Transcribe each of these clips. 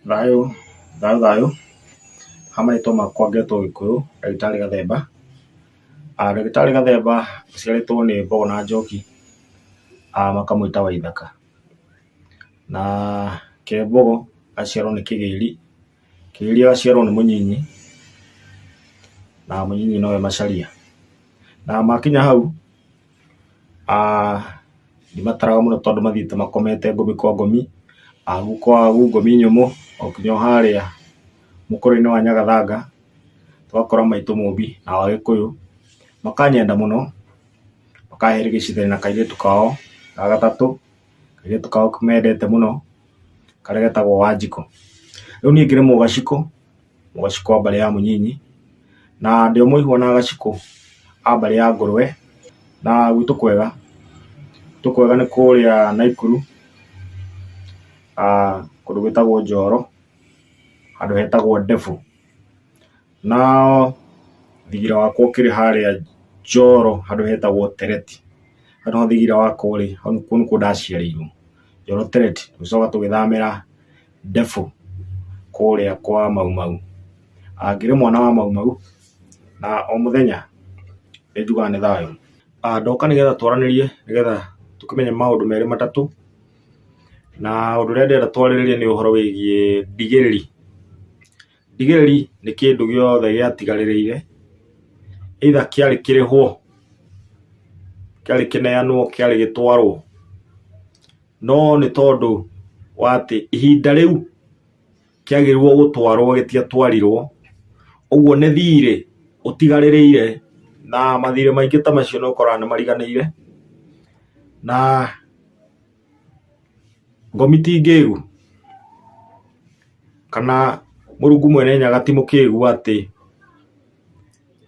Thayũ, thayũ thayũ, ha marĩtwa makwa ngetwo gĩkũyũ ndagĩtarĩ gathemba, ndagĩtarĩ gathemba njiarĩtwo nĩ mbogo na njoki makamwĩta waithaka, na kembogo agaciarwo nĩ kĩgĩri, kĩgĩri agaciarwo nĩ mũnyinyi, na mũnyinyi nowe macharia, na makinya hau. ndimataraga mũno tondũ mathiĩte makomete ngomi kwa ngomi, agu kwa agu ngomi nyũmũ o nginya o harĩa mũkũrwe-inĩ wa nyagathanga ũgakora maitũ mũmbi na agĩkũyũ makanyenda mũno makahĩrĩgicithania na kairĩtu kao ga gatatũ, kairĩtu kao mendete mũno karĩa getagwo wanjikũ, rĩu niĩ ngĩrĩmwo gacikũ ũgacikũ wa mbarĩ ya mũnyinyi, na ndĩ o mũihũ ona agacikũ a mbarĩ ya ngũrũwe, na gwitũ kwega, gwitũ kwega nĩ kũrĩa Naikuru, kũndũ gwĩtagwo Njoro, handũ hetagwo Ndebũ, no thigira wakwa ũkĩrĩ harĩa Njoro handũ hetagwo Tereti, hau nĩho thigira wakwa ũrĩ, kũu nĩkuo ndaciarĩirwo, Njoro Tereti, tũgĩcoka tũgĩthamĩra. ndefu kũrĩa kwa Mau Mau. Ngĩrĩ mwana wa Mau Mau na o mũthenya nĩ njugaga nĩ thayũ. Ndoka nĩ getha twaranĩrie nĩ getha tũkĩmenye maũndũ merĩ matatũ, na ũndũ ũrĩa ndĩrenda twarĩrĩrie nĩ ũhoro wĩgiĩ ndigĩrĩri. Ndigĩrĩri nĩ kĩndũ gĩothe gĩatigarĩrĩire either kĩarĩ kĩrĩhwo, kĩarĩ kĩneanwo, kĩarĩ gĩtwarwo. No nĩ tondũ wa atĩ ihinda rĩu kĩagĩrĩirwo gũtwarwo gĩtiatwarirwo, ũguo nĩ thiirĩ ũtigarĩrĩire, na mathiirĩ maingĩ ta macio nĩ ũkoraga nĩ mariganĩire, na ngomi ti ngĩĩgu, kana Mũrungu Mwene Nyaga ti mũkĩĩgu atĩ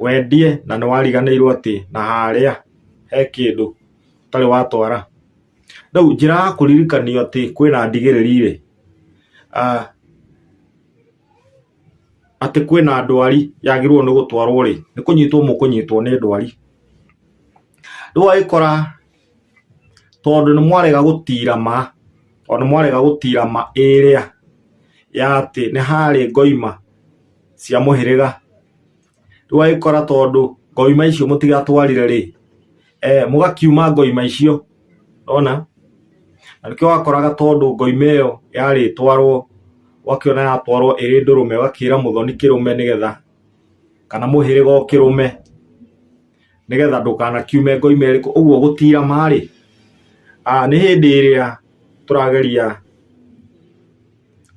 wendie na nĩ wariganĩirwo atĩ na harĩa he kĩndũ ũtarĩ watwara. rĩu njĩra ya kũririkanio atĩ kwĩna ndigĩrĩri rĩ ah, atĩ kwĩna ndwari yagĩrĩirwo nĩ gũtwarwo rĩ nĩ kũnyitwo mũkũnyitwo nĩ ndwari rĩu agĩkora tondũ nĩ mwarega gũtira ma o nĩ mwarega gũtira ma ĩrĩa ya atĩ nĩ harĩ ngoima cia mũhĩrĩga ndũgagĩkora tondũ ngoima icio mũtigatwarire rĩ eh, mũgakiuma ngoima icio ona na nĩkĩo wakoraga tondũ ngoima ĩyo yarĩ twarwo wakĩona yatwarwo ĩrĩ ndũrũme ũgakĩra mũthoni kĩrũme nĩgetha kana mũhĩrĩga ũkĩrũme nĩgetha ndũkanakiume ngoime ĩrĩkũ ũguo gũtira marĩ nĩ hĩndĩ ĩrĩa tũrageria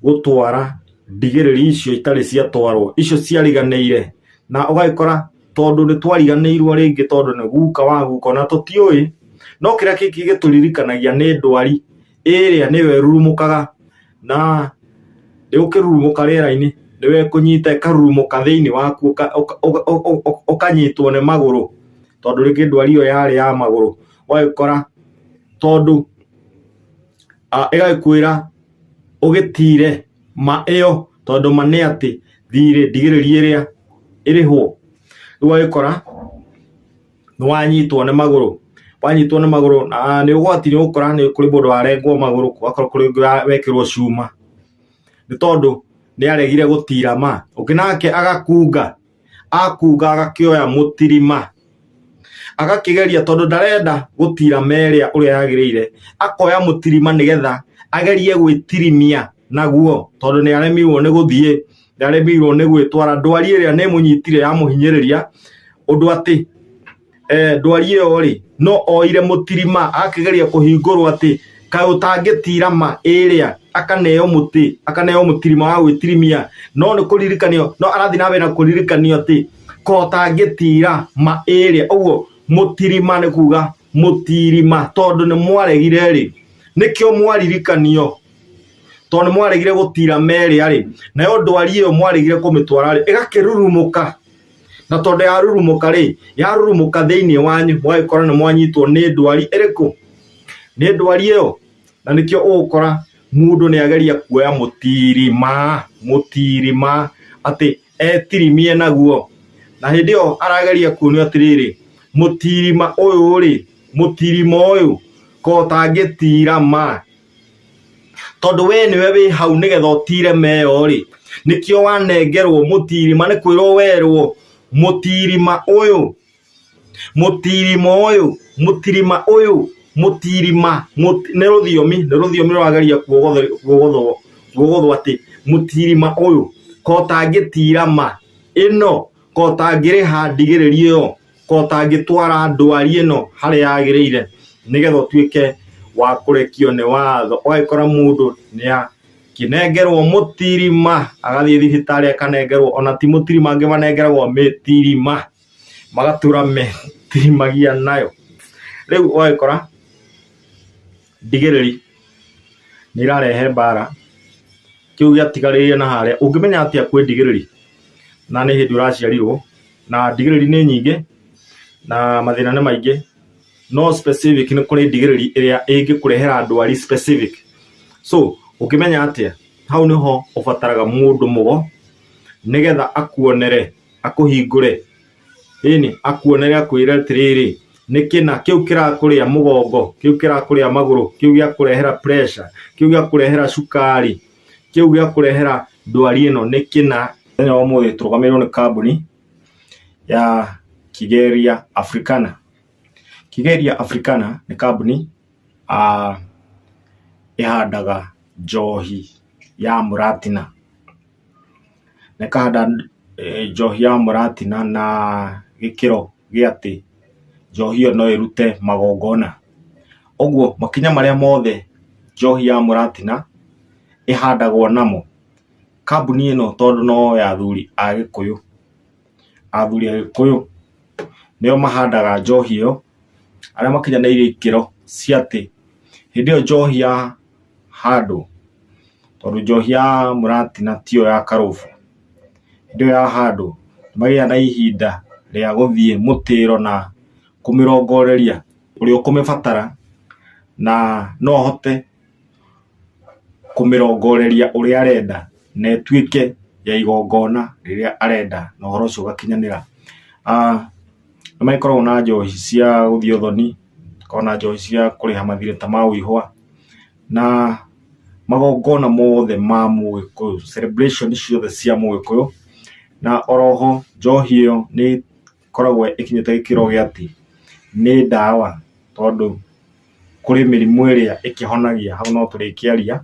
gũtwara ndigĩrĩri icio itarĩ ciatwarwo icio ciariganĩire na ũgagĩkora tondũ nĩ twariganĩirwo rĩngĩ tondũ nĩ guka wa guka ona tũtiũĩ no kĩrĩa kĩngĩ gĩtũririkanagia nĩ ndwari ĩrĩa nĩyo ĩrurumũkaga na yũkĩrurumũka rĩera-inĩ nĩyo ĩkũnyita ĩkarurumũka thĩinĩ waku ũka- ũka- ũka- ũka- ũka- ũkanyitwo nĩ magũrũ tondũ rĩngĩ ndwari ĩyo yarĩ ya magũrũ ũgagĩkora tondũ a- ĩgagĩkwĩra ũgĩtire ma ĩyo tondũ ma nĩ atĩ thirĩ ndigĩrĩria ĩrĩa ĩrĩhwo rĩu ũgagĩkora nĩ wanyitwo nĩ magũrũ wanyitwo nĩ magũrũ na nĩ ũgwati nĩ ũgũkora nĩ kũrĩ mũndũ warengwo magũrũ gũgakorwo kũrĩ ũngĩ wa- wekĩrwo cuma nĩ tondũ nĩ aregire gũtira ma ũngĩ nake agakunga akuga agakĩoya mũtirima agakĩgeria tondũ ndarenda gũtira meria ũrĩa yagĩrĩire akoya mũtirima nĩgetha agerie gwĩtirimia naguo tondũ nĩ aremirwo nĩ gũthiĩ nĩ aremirwo nĩ gwĩtwara ndwari ĩrĩa nĩ mũnyitire ya mũhinyĩrĩria ũndũ atĩ eh, ndwari ĩyo rĩ no oire mũtirima akĩgeria kũhingũrwo atĩ kaĩ ũtangĩtira ma ĩrĩa akaneo mũtĩ akaneo mũtirima wa gwĩtirimia no nĩ kũririkanio no arathiĩ na mbere na kũririkanio atĩ kaĩ ũtangĩtira ma ĩrĩa ũguo mũtirima nĩ kuga mũtirima tondũ nĩ mwaregire rĩ nĩkĩo mwaririkanio tondũ nĩ mwaregire gũtira merĩa rĩ nayo ndwari ĩyo mwaregire kũmĩtwara rĩ ĩgakĩrurumũka na tondũ yarurumũka rĩ yarurumũka thĩinĩ wanyu mwagĩkora nĩ mwanyitwo nĩ ndwari ĩrĩkũ nĩ ndwari ĩyo na nĩkĩo ũgũkora mũndũ nĩ ageria kuoya mũtirima mũtirima atĩ etirimie naguo na hĩndĩ ĩyo arageria kuonio atĩrĩrĩ mũtirima ũyũ rĩ mũtirima ũyũ ko ũtangĩtira ma tondũ we nĩwe wĩ hau nĩgetha ũtire meyo rĩ nĩkĩo wanengerwo mũtirima nĩ kwĩrwo werwo mũtirima ũyũ mũtirima ũyũ mũtirima ũyũ mũtirima mũti- nĩ rũthiomi nĩ rũthiomi rũrageria kuogothwo- kuogothwo kuogothwo atĩ mũtirima ũyũ kotangĩtira ma ĩno kotangĩrĩha ndigĩrĩria ĩyo Korwo ũtangĩtwara ndwari ĩno harĩa yagĩrĩire nĩgetha ũtuĩke wa kũrekio nĩ watho, ũgagĩkora mũndũ nĩakĩnengerwo mũtirima, agathiĩ thibitarĩ akanengerwo, ona ti mũtirima angĩ manengeragwo mĩtirima, magatũra metirimagia nayo, rĩu ũgagĩkora. Ndigĩrĩri nĩirarehe mbara, kĩu gĩatigarĩrĩire na harĩa, ũngĩmenya atĩa kwĩ ndigĩrĩri na nĩ hĩndĩ ũraciarirwo? Na ndigĩrĩri nĩ nyingĩ na mathĩna nĩ maingĩ, no specific nĩ kũrĩ ndigĩrĩri ĩrĩa ĩngĩkũrehera ndwari specific. So ũngĩmenya atĩa? Hau nĩho ũbataraga mũndũ mũgo, nĩgetha akuonere, akũhingũre. Ĩnĩ, akuonere akwĩre atĩrĩrĩ, nĩ kĩna kĩu kĩrakũrĩa mũgongo, kĩu kĩrakũrĩa magũrũ, kĩu gĩakũrehera pressure, kĩu gĩakũrehera cukari, kĩu gĩakũrehera ndwari ĩno nĩ kĩna. Mũthenya wa ũmũthĩ tũrũgamĩrĩirwo nĩ kambuni ya Kigeria Africana. Kigeria Africana nĩ kambuni ah ĩhandaga njohi ya mũratina. Na ĩkahanda njohi ya mũratina na gĩkĩro gĩa atĩ njohi ĩyo no ĩrute magongona. Ũguo makinya marĩa mothe njohi ya mũratina ĩhandagwo namo, kambuni ĩno tondũ no ya athuri a Gĩkũyũ, athuri a Gĩkũyũ nĩo mahandaga njohi ĩyo. arĩa makinyanĩirie ikĩro cia atĩ hĩndĩ ĩyo njohi ya handũ tondũ njohi ya mũratina tiyo ya karũbu hĩndĩ ĩyo ya handũ magĩa na ihinda rĩa gũthiĩ mũtĩro na kũmĩrongoreria ũrĩa ũkũmĩbatara na no ahote kũmĩrongoreria ũrĩa arenda na ĩtuĩke ya igongona rĩrĩa arenda na ũhoro ũcio ũgakinyanĩra. Nĩ magĩkoragwo na njohi cia gũthiĩ ũthoni, gũkoragwo na njohi cia kũrĩha mathirĩ ta ma ũihũa na magongona mothe ma mũgĩkũyũ, celebration ciothe cia mũgĩkũyũ na oro ho njohi ĩyo nĩ... ĩkoragwo ĩkinyĩte gĩkĩro gĩa atĩ nĩ ndawa tondũ kũrĩ mĩrimũ ĩrĩa ĩkĩhonagia hau no tũrĩkĩaria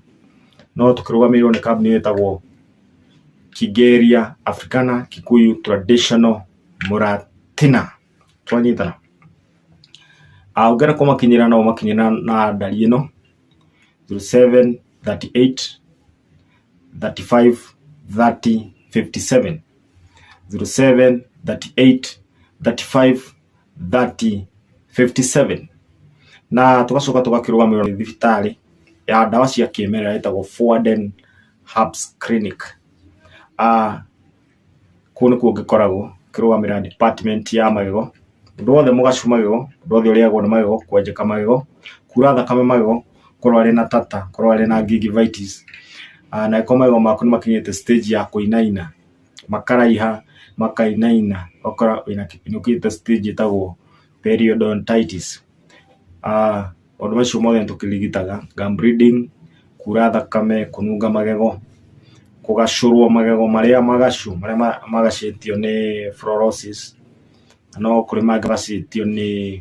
no tũkĩrũgamĩrĩirwo nĩ kambuni ĩtagwo Kĩngĩria Africana Kikuyu Traditional Mũratina. Twanyitana? Ũngĩenda kũmakinyĩra no ũmakinyĩre na na ndari ĩno, zero seven, thirty eight, thirty five, thirty, fifty seven. 07 38 35 30 57 na tugacoka tugakĩrũgamĩrĩrwo nĩ thibitarĩ ya ndawa cia kĩmerera ĩtagwo Foden Herbs Clinic Ah, kũu nĩkuo ngĩkoragwo ngĩrũgamĩrĩra department ya magego ũndũ wothe mũgacu magego ũndũ wothe ũrĩagwo nĩ magego kwenjeka magego kura thakame magego korwo arĩ na tata, korwo arĩ na gingivitis, na angĩkorwo magego maku nĩ makinyĩte stage ya kũinaina, makaraiha, makainaina, ũgakora wĩna nĩ ũkinyĩte stage ĩtagwo periodontitis. Maũndũ macio mothe nĩ tũkĩrigitaga, gum bleeding, kuura thakame, kũnunga magego, kũgacũrwo magego marĩa magacũ, marĩa magacĩtio nĩ fluorosis, no kũrĩ mangĩ magacĩtio nĩ...